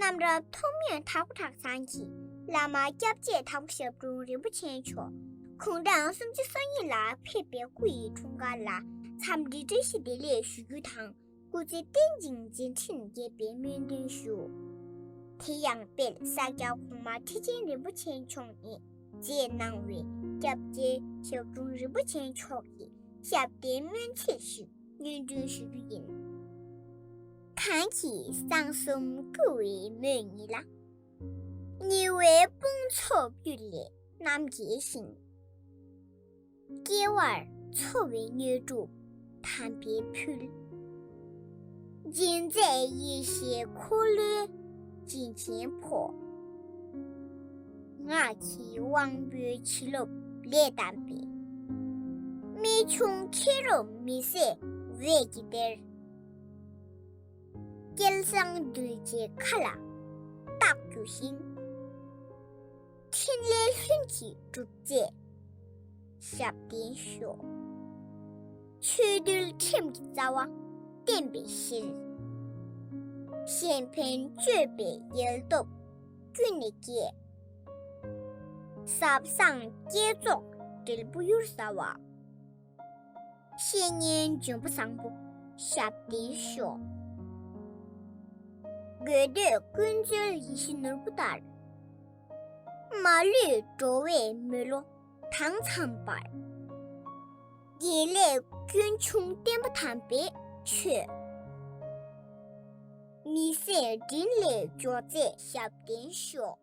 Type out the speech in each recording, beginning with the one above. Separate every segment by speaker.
Speaker 1: རྣམས་རབ་མཐོང་མོན་དྷ་སྐུ་དྲག་ཚང་གི་བླ་མ་སྐྱབས་རྗེ་དྭགས་པོ་ཞབས་དྲུང་རིན་པོ་ཆེ་མཆོག་གུང་ཐང་སུམ་ཅུ་སོ་གཉིས་ལ་ཕེབས་པའི་སྐུ་ཡི་འཁྲུངས་སྐར་ལ་འཚམས་འདྲི་བཀྲ་ཤིས་བདེ་ལེགས་ཞུ་རྒྱུ་དང་སྐུ་ཚེ་བརྟན་ཅིང་མཛད་འཕྲིན་རྒྱས་པའི་སྨོན་འདུན་ཞུ། དེ་ཡང་དཔལ་ས་སྐྱ་གོང་མ་ཁྲི་ཆེན་རིན་པོ་ཆེ་མཆོག་ནས་མཛད་གནང་བའི་སྐྱབས་རྗེ་ཞབས་དྲུང་རིན་པོ་ཆེ་མཆོག་གི་ཞབས་བརྟན་སྨོན་ཚིག་ཞིག་སྙན་སྒྲོན་ཞུ་རྒྱུ་ཡིན། གང་གིས་གསང་གསུམ་བསྐུལ་བའི་མོད་ཉིད་ལ། ཉེ་བའི་དཔུང་ཚོགས་རྒྱུད་ལས་རྣམ་རྒྱལ་ཞིང། སྐྱེ་བར་འཚོ་བའི་མྱོས་དྲུག་དམ་པའི་ཕུལ། སྦྱིན་མཛད་ཡེ་ཤེས་འཁོར་ལོའི་སྦྱིན་ཆེན་ཕོ། ངག་གི་དབང་པོའི་བྱིན་རློབས་ལས་བསྡམས་པའི། རྨད་བྱུང་མཁས་རབ་མི་ཟད་འོད་ཀྱི་གཏེར། སྐལ་བཟང་གདུལ་བྱའི་མཁའ་ལ་རྟག་རྒྱུ་ཞིང། ཕྲིན་ལས་ལྷུན་གྱིས་གྲུབ་མཛད་ཞབས་བརྟན་ཤོག། ཆོས་འདུལ་ཁྲིམས་ཀྱི་རྩ་བ་བརྟན་པའི་ཕྱིར། གཞན་ཕན་སྤྱོད་པའི་ཡལ་སྟོབས་ཀུན་ནས་རྒྱས། ཟབ་གསང་བསྐྱེད་རྫོགས་འབྲས་བུ་གཡུར་ཟ་བ། བཤེས་གཉེན་འབྱུང་པོ་བཟང་པོ་ཞབས་འདི་ཤོག། དགོས་འདོད་ཀུན་སྩོལ་ཡིད་བཞིན་ནོར་བུ་ལྟར། མ་ལུས་འགྲོ་བའི་མོས་བློ་དྭངས་འཚམས་པར། དགེ་ལེགས་སྐྱོན་ཆུང་བརྟན་པོ་དམ་པའི་ཆོས། མི་ཟད་དྲིན་ལས་འབྱོར་མཛད་ཞབས་བརྟན་ཤོག།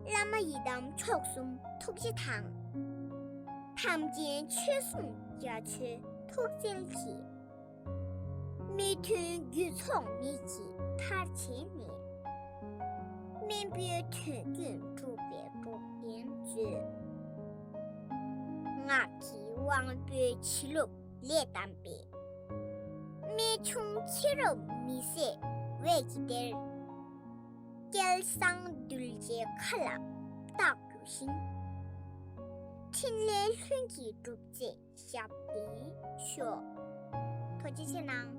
Speaker 1: བླ་མ་ཡི་དམ་མཆོག་གསུམ་ཐུགས་རྗེ་དང། དམ་ཅན་ཆོས་སྲུང་རྒྱ་མཚོའི་ཐུགས་རྩལ་གྱིས། མི་མཐུན་རྒྱུད་ཚོགས་མིག་གིས་མཐར་བྱས་ནས། སྨིན་པོའི་དོན་རྒྱུན་སྒྲུབ་པའི་འགྲོ་མཁན་མཛོད། ངག་གི་དབང་པོའི་བྱིན་རློབ་ལས་བལྟམས་པའི། རྨད་བྱུང་ཁྱེད་རབས་མི་ཟད་འོད་ཀྱི་གཏེར། སྐལ་བཟང་གདུལ་བྱའི་མཁའ་ལ་རྟག་རྒྱུ་ཞིང། ཕྲིན་ལས་ལྷུན་གྱིས་གྲུབ་རྗེས་ཞབས་བརྟན་ཤོག། ཐོ་རྗེ་ཆེ་གནང།